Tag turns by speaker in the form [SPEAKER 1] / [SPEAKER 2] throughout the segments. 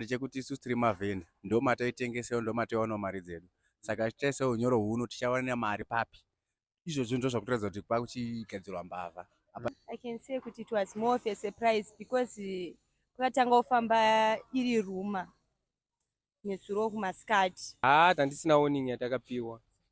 [SPEAKER 1] ndechekuti isu tiri mavheni ndo mataitengesero ndo mataiwanawo mari dzedu saka tichaisa unyoro huno tichawana mari papi izvozvo ndo zvakutoratidza kuti kwakuchigadzirwa mbavha i can say
[SPEAKER 2] kuti it was more of a surprise because kwakatanga kufamba iri ruma nezuro kumasikati haa ah, tandisina warning
[SPEAKER 3] yatakapiwa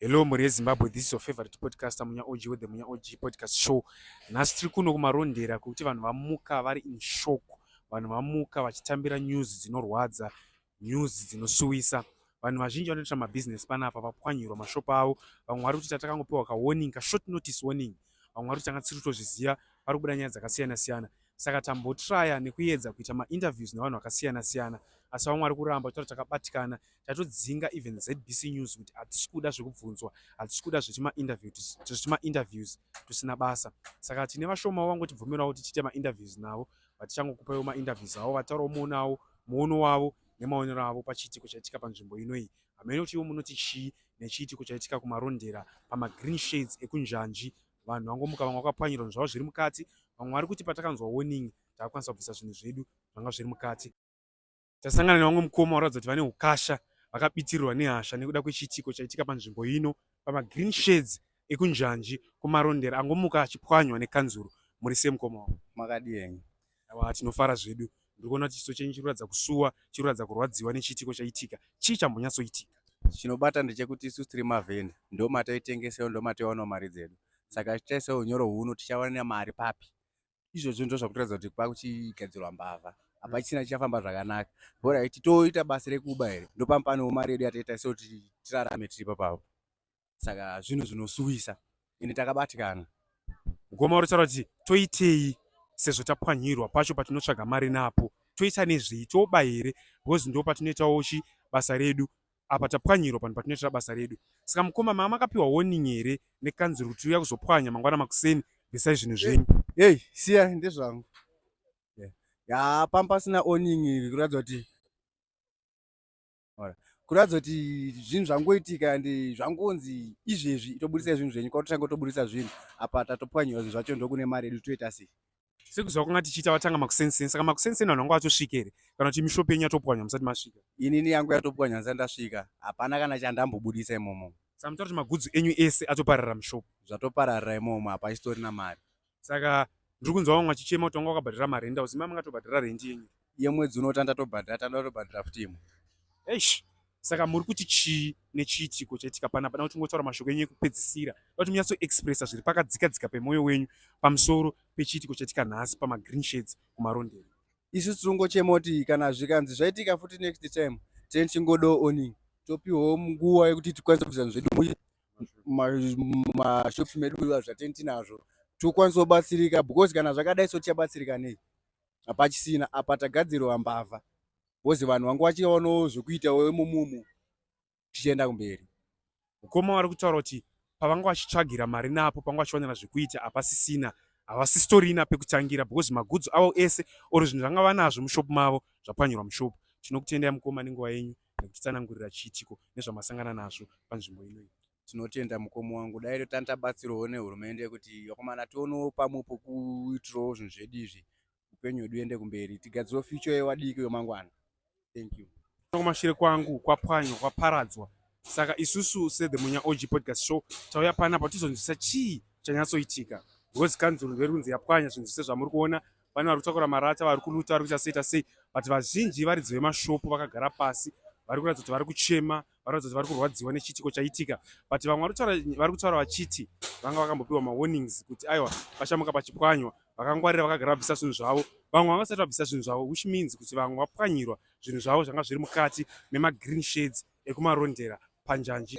[SPEAKER 4] Hello mhuri yeZimbabwe, this is your favorite podcaster Munya OG with the Munya OG podcast show. Nhasi tiri kuno kumarondera kuti vanhu vamuka vari in shock, vanhu vamuka vachitambira news dzinorwadza, news dzinosuwisa. Vanhu vazhinji vanoita mabusiness panapa vapwanyirwa mashop avo, vamwe vari kuti tatakangopiwa ka warning, ka short notice warning. Vamwe vari kuti tanga tisiri kutozviziva, vari kubuda nyaya dzakasiyana siyana. saka tambotraya nekuedza kuita mainterviews nevanhu vakasiyana siyana asi vamwe vari kuramba kutaura takabatikana tatodzinga even zbc news kuti hatisi kuda zvekubvunzwa hatisi kuda zvetimainterviews tusina basa saka tine vashoma vangotibvumirawo kuti tiite mainterviews navo vatichangokupaiwo mainterviews avo vataurawo muonawo muono wavo nemaonero avo pachiitiko chaitika panzvimbo inoyi hamene kuti ivo munoti chii nechiitiko chaitika kumarondera pamagreen shades ekunjanji vanhu vangomuka vamwe vakapwanyirwa zvavo zviri mukati vamwe vari kuti patakanzwa warning takakwanisa kubvisa zvinhu zvedu zvanga zviri mukati tasangana nevamwe mukoma varatidza kuti vane ukasha vakabitirirwa nehasha nekuda kwechiitiko chaitika panzvimbo ino pamagreen shades ekunjanji kumarondera angomuka achipwanywa nekanzuro muri semukoma wavo makadii henyu
[SPEAKER 1] Awa tinofara
[SPEAKER 4] zvedu. Ndiri kuona kuti chiso chenyu chiri kuratidza kusuwa, chiri kuratidza kurwadziwa nechiitiko chaitika. Chii chambonyatsoitika? Chinobata
[SPEAKER 1] ndechekuti isu tiri mavheni ndomataitengesewo ndomatoiwanawo mari dzedu saka tichaisa unyoro huno tichawana mari papi izvozvo ndo zvakutoratidza kuti kwakuchigadzirwa mbavha hapachisina chichafamba zvakanaka bora iti toita basa rekuba here ndopamupaniwo mari yedu yataita sekuti tirarame tiripo pavo saka zvinhu zvinosuwisa ende takabatikana goma
[SPEAKER 4] uri taura kuti toitei sezvo tapwanyirwa pacho patinotsvaga mari napo toita nezvei toba here because ndo patinoitawo chi basa redu apa tapwanyirwa panhu patinoitira basa redu saka mukoma mama akapiwa warning here nekanzuro kuti uya kuzopwanya mangwana makuseni bvisai zvinhu zvenyu hey siya
[SPEAKER 1] ndezvangu ya pamba pasina warning kuratidza kuti kuratidza kuti zvinhu zvangoitika and zvangonzi izvezvi tobudisa zvinhu zvenyu kwatotanga tobudisa zvinhu apa tatopwanyiwa zvinhu zvacho ndokune mari yedu toita sei sekuziva kwanga
[SPEAKER 4] tichiita vatanga makusenseni saka makusenseni vanhu vanga vachosvika here kana kuti mishopi yenyu yatopwanya musati masvika inini yangu yatopwanya
[SPEAKER 1] musati ndasvika hapana kana chandambobudisa imomo saka mutora kuti magudzu
[SPEAKER 4] enyu ese atoparara mishopi zvatopararira imomo
[SPEAKER 1] hapasitorina mari saka
[SPEAKER 4] ndiri kunzwa vamwe vachichema kuti vanga wakabhadhara mari enda uzima mangatobhadhara rendi yenyu yemwedzi unotanda
[SPEAKER 1] tobhadhara tanda tobhadhara futi imwe eish
[SPEAKER 4] saka muri kuti chii nechiitiko chaitika pana pana kuti ngotaura mashoko enyu ekupedzisira kuti munyatso expressa zviri pakadzika dzika pemwoyo wenyu pamusoro pechiitiko chaitika nhasi pamagreen shades kumarondero isu tirongochema
[SPEAKER 1] kuti kana zvikanzi zvaitika futi next time tene chingodo oning topiwawo nguva yekuti tikwanise kuita zvedu mumashops medu kuva zvatini tinazvo tikwanise kubatsirika because kana zvakadai so tichabatsirika nei hapachisina apa tagadzirirwa mbavha bcause vanhu vanga vachiwanawo zvekuita wemumumu tichienda kumberi mukoma vari
[SPEAKER 4] kutaura kuti pavanga vachitsvagira mari napo panga vachiwanira zvekuita hapasisina havasisitorina pekutangira because magudzi avo ese or zvinhu zvanga vanazvo mushopu mavo zvapwanyirwa mushopu tinokutendai mukoma nenguva yenyu nekutitsanangurira chiitiko nezvamasangana nazvo panzvimbo inoyi tinotenda mukomo
[SPEAKER 1] wangu dai totanga tabatsirwawo nehurumende kuti vakomana tionewo pamwe pokuitirawo zvinhu zvedu izvi upenyu hwedu uende kumberi tigadzirewo future yewadiki yemangwana thank you kumashure kwangu
[SPEAKER 4] kwapwanywa kwaparadzwa saka isusu sethemunya og podcast show tauya panapa tizonzwisa chii chanyatsoitika because kanzuru verunzi yapwanya zvinhu zvese zvamuri kuona vane vari kutakura marata vari kuluta vari kuita seita sei but vazhinji varidzi vemashopu vakagara pasi vari kuratidza kuti vari kuchema vari kuratidza kuti vari kurwadziwa nechiitiko chaitika but vamwe vari kutaura vachiti vanga vakambopiwa mawarnings kuti aiwa pachamuka pachipwanywa vakangwarira vakagara vabvisa zvinhu zvavo vamwe vanga vasati vabvisa zvinhu zvavo which means kuti vamwe vapwanyirwa zvinhu zvavo zvanga zviri mukati memagreen shades ekumarondera panjanji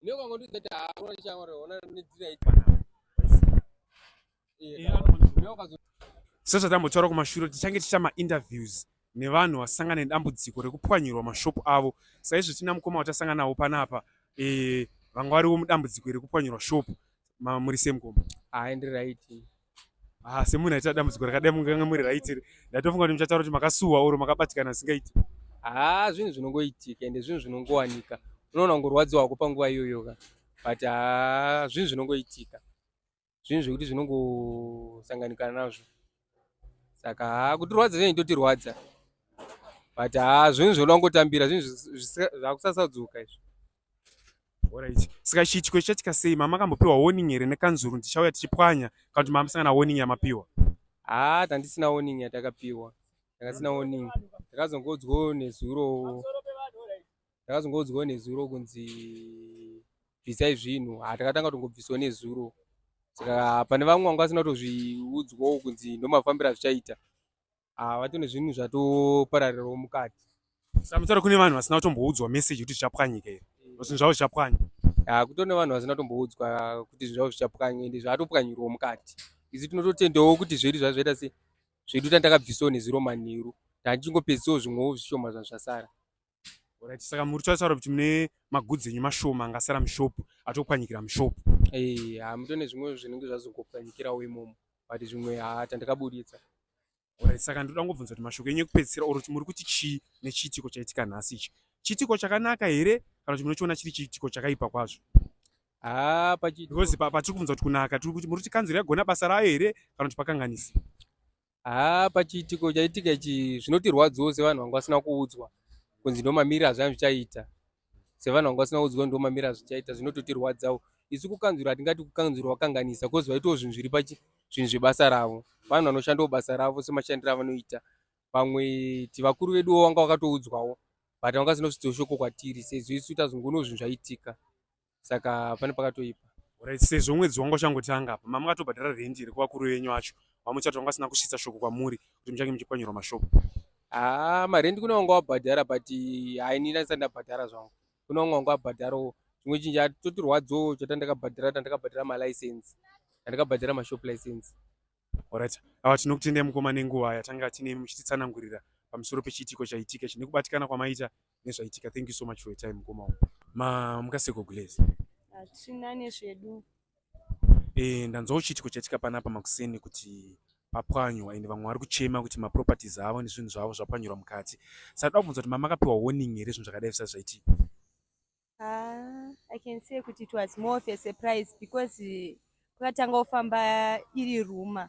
[SPEAKER 4] Ndiyo kwa ngondi zeta hawa ni changore ona ni dzira iti. Ndiyo kwa Sasa tambo chora kuma shuro tichange tichama interviews nevanhu vasangana nedambudziko rekupwanyirwa mashop avo. Saizvo tina mukoma watasangana nawo panapa. Eh vangwariwo mudambudziko rekupwanyirwa shop. Ma muri same kombo. Ah, ndi right.
[SPEAKER 3] Ah,
[SPEAKER 4] semunhu aita dambudziko rakadai munganga muri raitire ndatofunga kuti muchataura kuti makasuwa oro makabatikana zvisingaiti haa zvinhu
[SPEAKER 3] zvinongoitika ende zvinhu zvinongowanika unoona kungorwadziwa hako panguva iyoyo ka but haa zvinhu zvinongoitika zvinhu zvekuti zvinongosanganikana nazvo saka haa kutirwadza zvinhu itotirwadza but haa zvinhu zvinoda kungotambira zvinhu zvakusasadzoka izvi
[SPEAKER 4] Alright. Saka chiitiko chichatika sei? Mama akambopiwa warning here nekanzuru ndichauya tichipwanya kana kuti mama musangana warning yamapiwa? Ah, tandisina
[SPEAKER 3] warning yatakapiwa. Takasina warning. Takazongodzwo nezuro. Takazongodzwo nezuro kunzi bvisai zvinhu. Ah, takatanga tongobviswa nezuro. Saka pane vamwe vanga vasina kutozviudzwawo kunzi ndomafambira zvichaita. ah, vatone zvinhu zvatopararirawo mukati samutaro kune
[SPEAKER 4] vanhu vasina kutomboudzwa message kuti zvichapwanyika here eh. zvinhu zvavo zvichapwanya ah, kutone vanhu
[SPEAKER 3] vasina kutomboudzwa kuti zvinhu zvavo zvichapwanya ende zvatopwanyirwa mukati izi tinototendawo kuti zvedu zvazvaita se zvedu tandakabvisawo neziro manheru tandichingopedzisiwo zvimwewo zvishoma zvazvasara Alright,
[SPEAKER 4] saka muri kutaura kuti mune magudzi enyu mashoma angasara mushop atopwanyikira mushop. Eh, hamutone
[SPEAKER 3] zvimwe zvinenge zvazongopwanyikirawo imomo but zvimwe haa tandikabuditsa. Alright,
[SPEAKER 4] saka ndoda kungobvunza kuti mashoko enyu ekupedzisira or kuti muri kuti chii nechiitiko chaitika nhasi ichi. Chiitiko chakanaka here kana kuti munochiona chiri chiitiko chakaipa kwazvo? Haa pachiitiko. Because pa- patiri kubvunza kuti kunaka tiri kuti muri kuti kanzuru yagona basa rayo here kana kuti pakanganisa? haa
[SPEAKER 3] pachiitiko chaitika ichi zvinotirwadziwo sevanhu vanga vasina kuudzwa kunzi ndomamiri azvani zvichaita sevanhu vanga vasina kuudzwa ndomamiri azvichaita zvinototirwadzawo isu kukanzura hatingati kukanzura wakanganisa bcause vaitawo zvinhu zviri pachi zvinhu zvebasa ravo vanhu vanoshandawo basa ravo semashandiro avanoita vamwe ti vakuru veduwo wanga wakatoudzwawo but vanga zinosudzwa shoko kwatiri sezvo isu tazongono zvinhu zvaitika saka pane pakatoipa Alright, sezvo mwedzi
[SPEAKER 4] wanga uchangotanga apa mama akatobhadhara rent here kuvakuru venyu vacho vamuchati vanga vasina kusvitsa shoko kwamuri kuti muchange muchipwanyirwa mashopu haa
[SPEAKER 3] marendi kune wanga wabhadhara but haini ndandisati ndabhadhara zvangu kune wanga wanga wabhadharawo chimwe chinhu chatotirwadzawo chata ndakabhadhara ndandakabhadhara malicense ndandakabhadhara mashop license Alright,
[SPEAKER 4] awa tinokutendai mukoma nenguva yatanga tine muchititsanangurira pamusoro pechiitiko chaitika chine kubatikana kwamaita nezvaitika thank you so much for your time mukoma wangu ma mukaseko glaze hatina
[SPEAKER 2] nezvedu eh
[SPEAKER 4] ndanzwa uchitiko chaitika panapa makuseni kuti papwanywa and vamwe vari kuchema kuti maproperties avo nezvinhu zvavo zvapwanyirwa mukati saka toda kubvunza kuti mama akapiwa warning here zvinhu zvakadai zvisati zvaitika
[SPEAKER 2] ah, i can say kuti it was more of a surprise because kwakatanga kufamba iri ruma